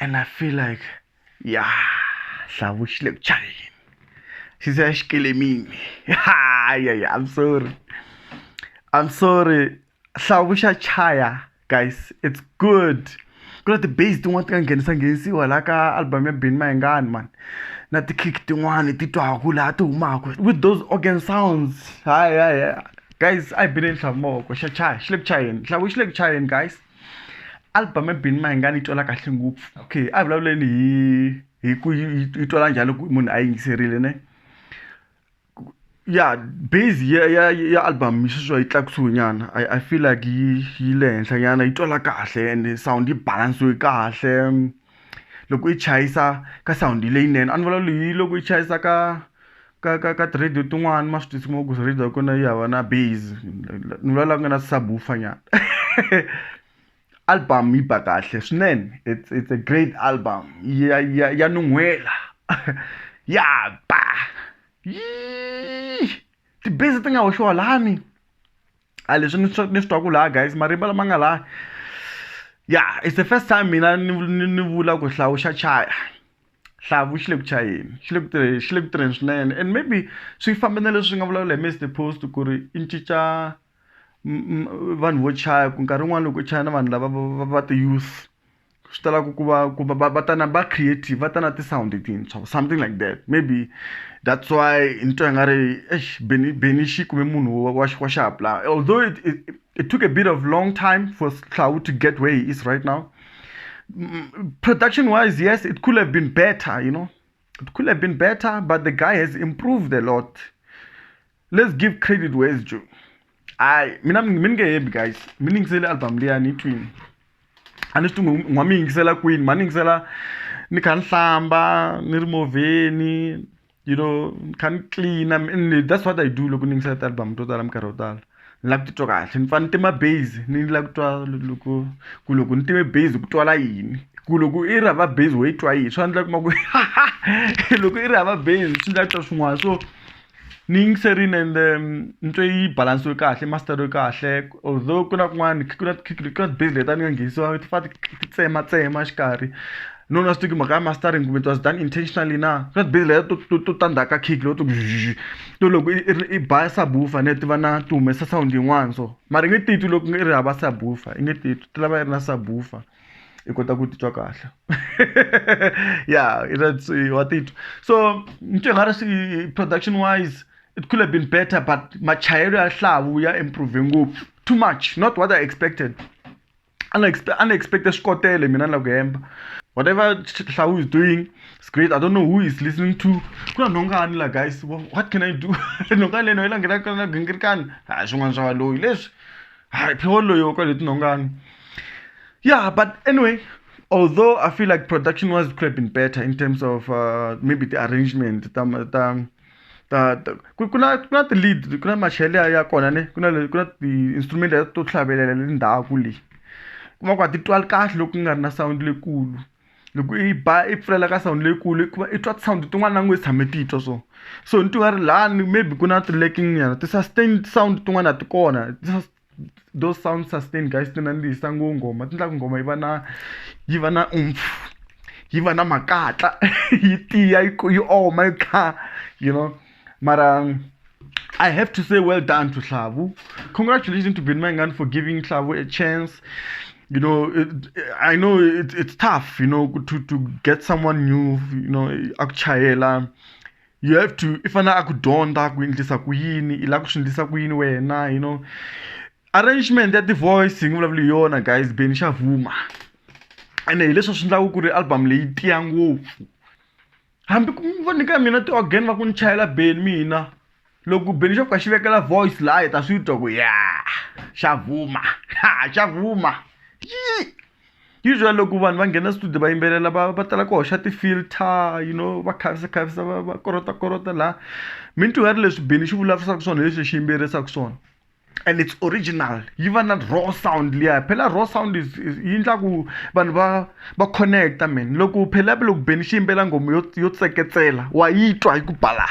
and i feel like ya hlavu xi le ku chayeni xi se xi kele mimi hayi i'm sorry i'm sorry hlavu xa chaya guys it's good ku na ti-base tin'wana ti nga nghenisa nghenisiwa laha ka album ya bini mayengani mani na ti-kick tin'wani ti twaku laha ti humaka with those organ sounds hayi hayi guys a hi bineni hlavu mavoko xa chaya xi le ku chayeni hlavu xi le ku chayeni guys album ebini mahingani yi twala kahle ngopfu okay a hi vulavuleni hi hi ku yi twala njhani loko munhu a yingiserile ne ya base ya ya ya album yi sweswiwa yi tlakusiwe nyana i i feel like yi yi le henhla nyana yi twala kahle and sound yi balansiwe kahle loko yi chayisa ka sound leyinene a ni vulavula hi loko yi chayisa ka ka ka ka ti-radio tin'wani ma swi tisi mo ku radio ya kona yi hava na base ni vula la ku nga na subwoofer nyana album yi ba kahle swinene it's it's a great album ya ya ya nun'hwela ya ba yii ti-base ti nga hoxiwa lani a leswi ni swi ni swi twaku laha guys marimba lama nga laha ya it's the first time mina ni ni ni vula ku hlawuxa chaya. xihlawuhlawu xi le ku chayeni xi le ku tirheni xi le ku tirheni swinene and maybe swi famba na leswi nga vulavula hi Mister Post ku ri i cinca vanhu vo chaya ku nkarhi wun'wani loko u chaya na vanhu lava va va ti-youth swi tala ku ku va ku va va va ta na va creative va ta na ti-sound tintshwa or something like that maybe that's why ni twa nga ri eish Benny Benny xi kume munhu wa wa wa xihatla although it it it took a bit of long time for xihlawuhlawu to get way he is right now. Mm, production wise, yes, it could have been better, you know. It could have been better, but the guy has improved a lot. Let's give credit where it's due. I mina miningeyembi guys miningisele album leya ni twin a ni swi tungu n'wa mi yingisela kwini ma ni yingisela ni kha ni hlamba ni ri movheni you know ni kha ni clean and that's what i do loko ni yingisela ti-album to tala minkarhi yo tala ni lava ku titwa kahle ni fanele ni tima base ni lava ku twa loko ku loko ni time base ku twala yini ku loko i ri hava base wo yi twa yini swi endla kuma ku loko i ri hava base swi ndla ku twa swin'wana so ni yingiserile and um, ni twe yi balance yo kahle master yo kahle although ku na kun'wana ku na ku na base leta ni nga nghenisiwa ti fa ti tsema tsema xikarhi no na swi tivi mhaka ya mastering kumbe it was done intentionally na swa tibizi leyo to to to tandha ka kick leyo to to loko i i ba subwoofer ne ti va na ti humesa sound yin'wana so mara i nge titwi loko i ri hava subwoofer i nge titwi ti lava yi ri na subwoofer i kota ku titwa kahle ya wa titwa so ni twe nga ri swi production wise it could have been better but machayelo ya hlavu ya improve ngopfu too much not what i expected a ni expect a ni expect swikotele mina ni la ku hemba whatever hlawu is doing it's great i don't know who is listening to ku na nhongani la guys what can i do nhongani leno yi la nghena ka na gingirikani hayi swin'wana swa valoyi leswi hayi phewolo loyi wa kwale tinhongani yeah but anyway although i feel like production was could have been better in terms of uh, maybe the arrangement ta ta ta ta ku ku na ku na ti-lead ku na machele ya ya kona ne ku na ku na ti-instrument leti to hlavelela le ndzhaku le kuma ku a ti twali kahle loko ku nga ri na sound leyikulu loko i ba i pfulela ka sound leyikulu hikuva i twa ti-sound tin'wana na ngo i tshame ti twa so so ni twi nga ri lani maybe ku na ti-lacking nyana ti-sustain sound tin'wana a ti kona . those sound sustain guys ti nandzihisa ngo nghoma ti endla ku nghoma yi va na yi va na umpfu yi va na makatla yi tiya yi yi oma yi kha you know mara I have to say well done to Hlavu. Congratulations to Binmangan for giving Hlavu a chance. You know, it, I know it, it's tough, you know, to, to get someone new, you know, Akchayela. you have to i fanele a ku dyondza ku endlisa ku yini i lava ku swi endlisa ku yini wena you know arrangement ya ti-voice hi nge vulavuli hi yona guys beni xa vuma ene hi leswi swi endlaka ku ri album leyi tiya ngopfu hambi ku va nyika mina ti-organ va ku ni chayela beni mina loko beni xo fika xi vekela voice laha hi ta swi twa ku ya xa vuma xa vuma yi usually loko vanhu va nghena studio va yimbelela va va tala ku hoxa ti-filter you know va khavisa khavisa va va korota korota laha mi ni twi nga ri leswi bini xi vulavurisaka swona hi leswi xi yimbelerisaka swona and it's original yi va na raw sound liya phela raw sound is, is yi endla ku vanhu va va connecta man loko phela loko beni xi yimbela nghoma yo yo tseketsela wa yi twa yi ku bala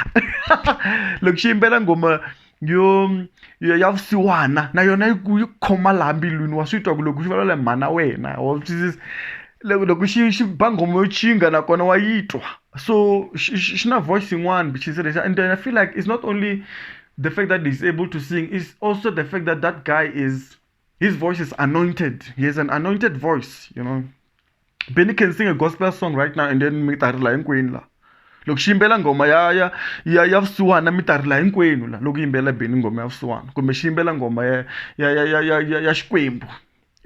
loko xi yimbela nghoma yo yo ya vusiwana na yona yi ku yi khoma laha mbilwini wa swi twa ku loko xi vulavula hi mhana wena wa swi twisisa loko loko xi xi ba nghoma yo tshinga nakona wa yi twa so xi xi xi na voice yin'wana which is lexi and I feel like it's not only the fact that he's able to sing is also the fact that that guy is. His voice is anointed. He has an anointed voice, you know. Benny can sing a gospel song right now and then mi ta rila hinkwenu la. Loko xi yimbela ngoma ya ya ya ya vusiwana mi ta rila hinkwenu la loko yimbela Benny ngoma ya vusiwana kumbe xi yimbela ngoma ya ya ya ya ya ya, ya Xikwembu.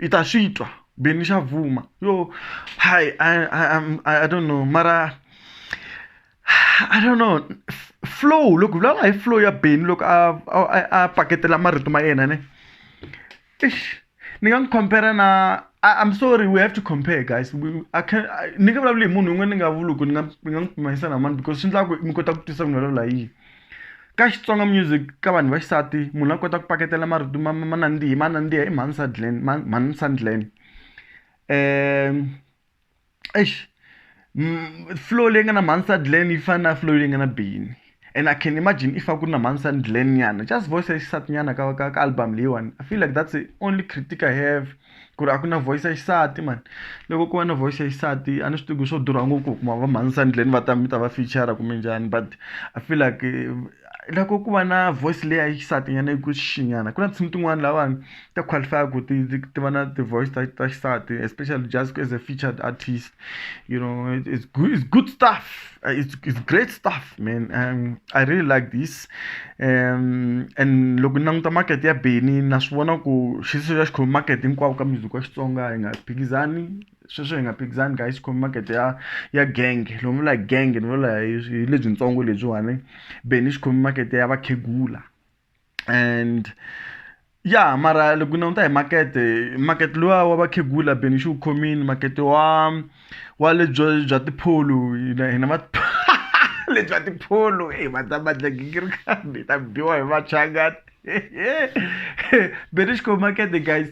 I ta swi twa Benny xa vuma. Yo, hi I I I'm- I I don't know mara I don't know flow loko hi vulavula hi flow ya beni loko a a a paketela marito ma yena ne eish ni nga n'wi compare na I'm sorry we have to compare guys we, I can ni nga vulavuli hi munhu un'we ni nga vuluku ni nga ni nga n'wi pimanisa na mani because swi endla ku mi kota ku twisisa ku ni vulavula yini ka Xitsonga music ka vanhu va xisati munhu a kota ku paketela marito ma ma nandzihi ma nandziha i Mhani Sadlen Mhani Sandlen um eish flow leyi nga na mhani glen yi fana na flow leyi nga na bini and i can imagine if a ku ri na mhani san glen nyana just voice ya xisati nyana ka ka ka album leyiwani i feel like that's the only critic i have ku ri a ku na voice ya xisati mani loko ko va na voice ya xisati a ni swi tivi ku swo durha ngopfu ku kuma va mhani san glen va ta mi ta va feature kumbe njhani but i feel like loko ku va na voice leyi ya xisati nyana yi ku xixi nyana ku na tinsimu tin'wani lavawani ta qualify ku ti ti ti va na ti voice ta ta xisati especially just as a featured artist you know it's good it's good stuff it's it's great stuff man I really like this and loko ni languta market ya Benny na swi vona ku xi se xi khome market hinkwawo ka music wa Xitsonga hi nga phikizani sweswo hi nga phikizani guys khomi makete ya ya gang loko ni vula hi gang ni vula hi lebyintsongo lebyiwani beni xi khomi makete ya vakhegula and ya mara loko ku languta hi makete makete luwa wa vakhegula beni xi wu khomini makete wa wa lebyo bya tipholo hina hina va lebyi va tipholo e va ta badlagikiri kambe ta biwa hi vachangani beni xi khomi makete guys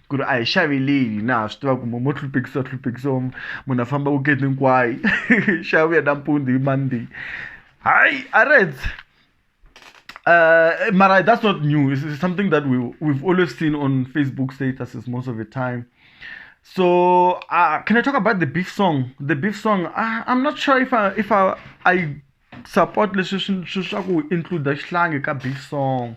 ku ri a hi xaveleni na ha swi tiva ku mo mo hluphekisiwa hluphekisiwa munhu a famba weekend hinkwayo xa vuya nampundzu hi monday hayi a reds Uh, Mara, that's not new. It's, it's something that we, we've always seen on Facebook statuses most of the time. So, uh, can I talk about the beef song? The beef song, I, I'm not sure if I, if I, I support leswi swi swi swa ku include xihlangi ka big song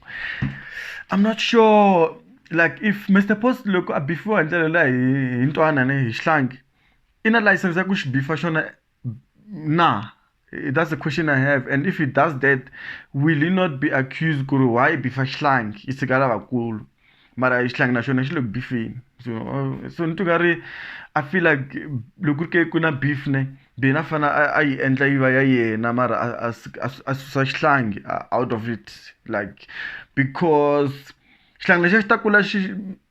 I'm not sure like if Mister Post loko a bifiwa hi ndlela leyi hi hi ntwanani hi xihlangi i na layisense ya ku xi bifa xona na that's the question I have and if he does that will he not be accused ku ri why i bifa xihlangi i tshika lavakulu. mara xihlangi na xona xi le ku bifeni so so ni twa nga ri i feel like loko ku ri ke ku na beef ne then a fanele a a yi endla yi va ya yena mara a a a a susa xihlangi out of it like because xihlangi lexiya xi ta kula xi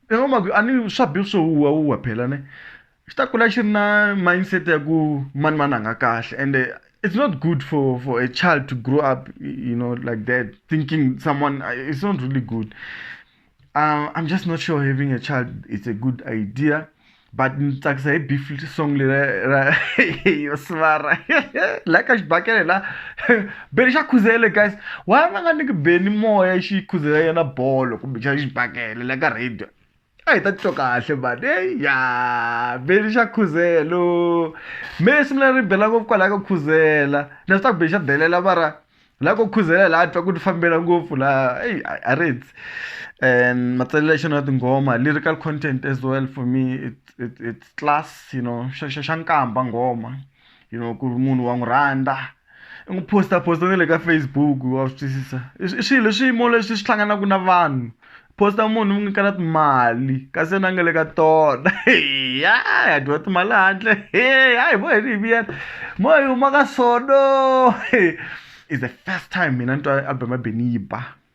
i ngi swa beef swo huhwa huhwa phela ne xi ta kula xi ri na mindset ya ku mani mani a nga kahle ende it's not good for for a child to grow up you know like that thinking someone it's not really good uh, i'm just not sure having a child is a good idea but ni tsakisa hi beef song leri ra yo sivara la ka xibakele la beni xa khuzele guys why va nga niki beni moya xi khuzela yena bolo kumbe xa xibakele la ka radio a hi ta titwa kahle mani eyi ya beli xa khuzelo me simu leri bela ngopfu kwalaya ka khuzela na swi ta ku beli xa delela mara la ko khuzela laha twa ku ti fambela ngopfu laha eyi a ri ndzi and matsalelo ya xona ya tinghoma lyrical content as well for me it's it's it's class you know xa xa xa nkamba nghoma. you know ku ri munhu wa n'wi rhandza i n'wi posta posta na le ka facebook wa swi twisisa i swilo i swiyimo leswi swi hlanganaka na vanhu posta munhu n'wi nyikela timali kasi yena a nga le ka tona ya ya dyiwa timali handle hayi vo heli hi vuyela mo hi huma ka sono is the first time mina ni twa album ya beniba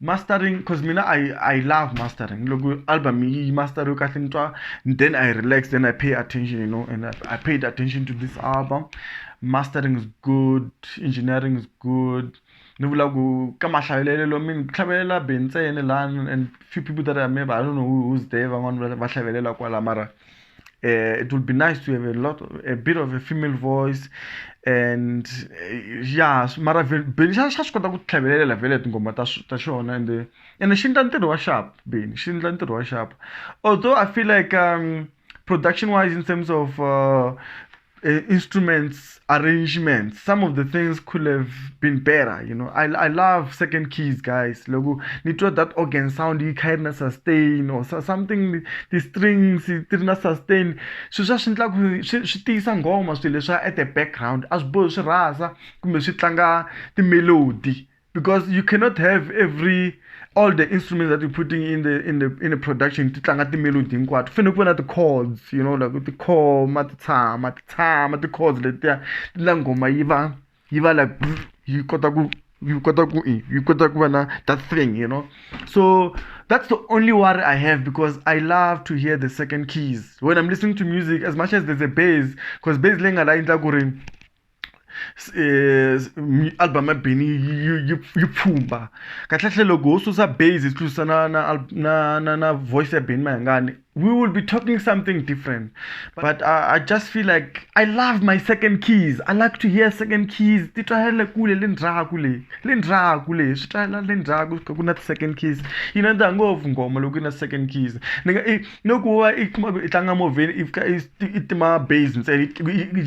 mastering because mina i i love mastering loko album yi masteriwe kahle ni twa then i relax then i pay attention you know and i, I paid attention to this album mastering is good engineering is good ni vula ku ka mahlayelelo mi ni tlhavelela be ntsena lani and few people that i remember i don't know who, who's there van'wani va hlavelela kwala mara uh, it would be nice to have a lot, of, a bit of a female voice, and uh, yeah, mara Benny xa xa swi kota ku tlhavelela vele tingoma ta ta xona and eh, and xi endla ntirho wa sharp Benny xi endla ntirho wa sharp although I feel like um, production wise in terms of uh, uh, instruments arrangements some of the things could have been better you know i, I love second keys guys logo nitwa that organ sound yi kha na sustain or something the strings ti ri na sustain swilo swa swi endla ku swi tiyisa nghoma swilo leswa at the background a swi bohi swi rhasa kumbe swi tlanga timelody because you cannot have every all the instruments that you're putting in the in the in the production ti tlanga ti-melody hinkwato fanele ku va na ti-chords you know like tikhoma ti tshama ti tshama ti-chords letiya ti la nghoma yi va yi va like yi kota ku yi kota ku yi kota ku va na that thing you know so that's the only worry I have because I love to hear the second keys when I'm listening to music as much as there's a bass because bass lenga la endla ku ri album ya Benny yi yi yi yi pfhumba kahlekahle loko ho susa base hi susa na na na na na voice ya Benny Mayengani we will be talking something different but I I just feel like I love my second keys I like to hear second keys ti twa le kule le ndzhaku le le ndzhaku le swi twala le ndzhaku ku kha ku na ti-second keys yi nandziha ngopfu nghoma loko yi ri na second keys ni nga i. ni ku va i kuma ku i tlanga movheni i fika i tima base ntsena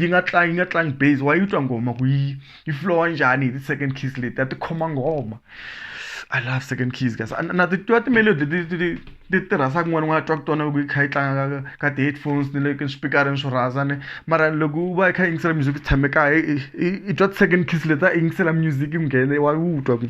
yi nga tlangi yi nga tlangi base wa yi twa nghoma ku yi yi flowa njhani hi ti-second keys leti a ti khoma nghoma i love second keys kasi na ti twa ti-melody ti ti ti ti ti rhasa kun'wana u nga twa ku tona loko yi kha yi tlanga ka ka ti-headphones ni le ka swipikarini swo rhasa ni mara loko u va i kha i yingisela music u tshame kaya i i twa ti-second keys leti a i yingisela music yi nghene wa yi twa ku.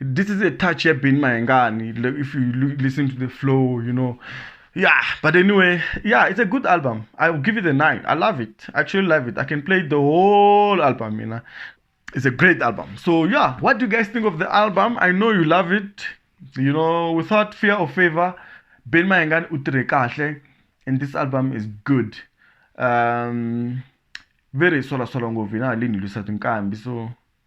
this is a touch ya Benny Mayengani if you listen to the flow you know yeah but anyway yeah it's a good album i will give it a nine i love it I actually love it i can play the whole album you know it's a great album so yeah what do you guys think of the album i know you love it you know without fear or favor Benny Mayengani utire kahle and this album is good um very sola sola ngopfu yina halini lwisa tinkambi so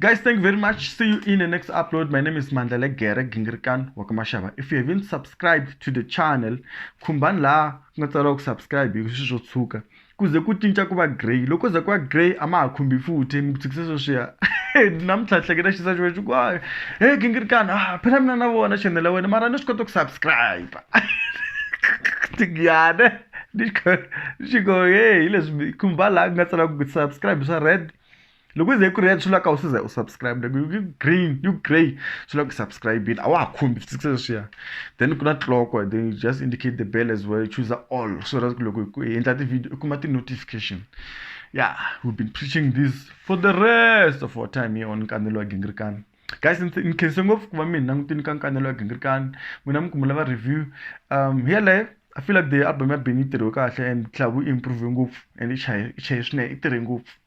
Guys, thank you very much. See you in the next upload. My name is Mandlele Gere Gingirkan Wakamashaba. If you haven't subscribed to the channel, kumban la ngatsala ku subscribe hi swiswo tshuka. Kuze ku cinca ku va grey. Loko za ku va grey a ma ha khumbi futhi mi ku tshikisa sweswiya. Namuntlha hleketa xisa xo xo ku hayi. Hey Gingirkan, ah phela mina na vona channel ya wena mara ni swi kota ku subscribe. Tingiyane. Ni xi go hey leswi kumba la ngatsala ku subscribe swa red. loko yi ze yi ku red swi lava ka u se za u subscribe loko yi green yi grey swi lava ku subscribe-ile a wa ha khumbi swi fikisa leswiya then ku na clock then you just indicate the bell as well choose all so that loko hi endla ti-video u kuma ti-notification yeah we've been preaching this for the rest of our time here on nkanelo wa gingirikani guys ni khense ngopfu ku va mi hi langutini ka nkanelo wa gingirikani n'wina mi kumela va review um here live i feel like the album ya beni yi tirhiwe kahle and club yi improve ngopfu and i chaye i chaye swinene i tirhe ngopfu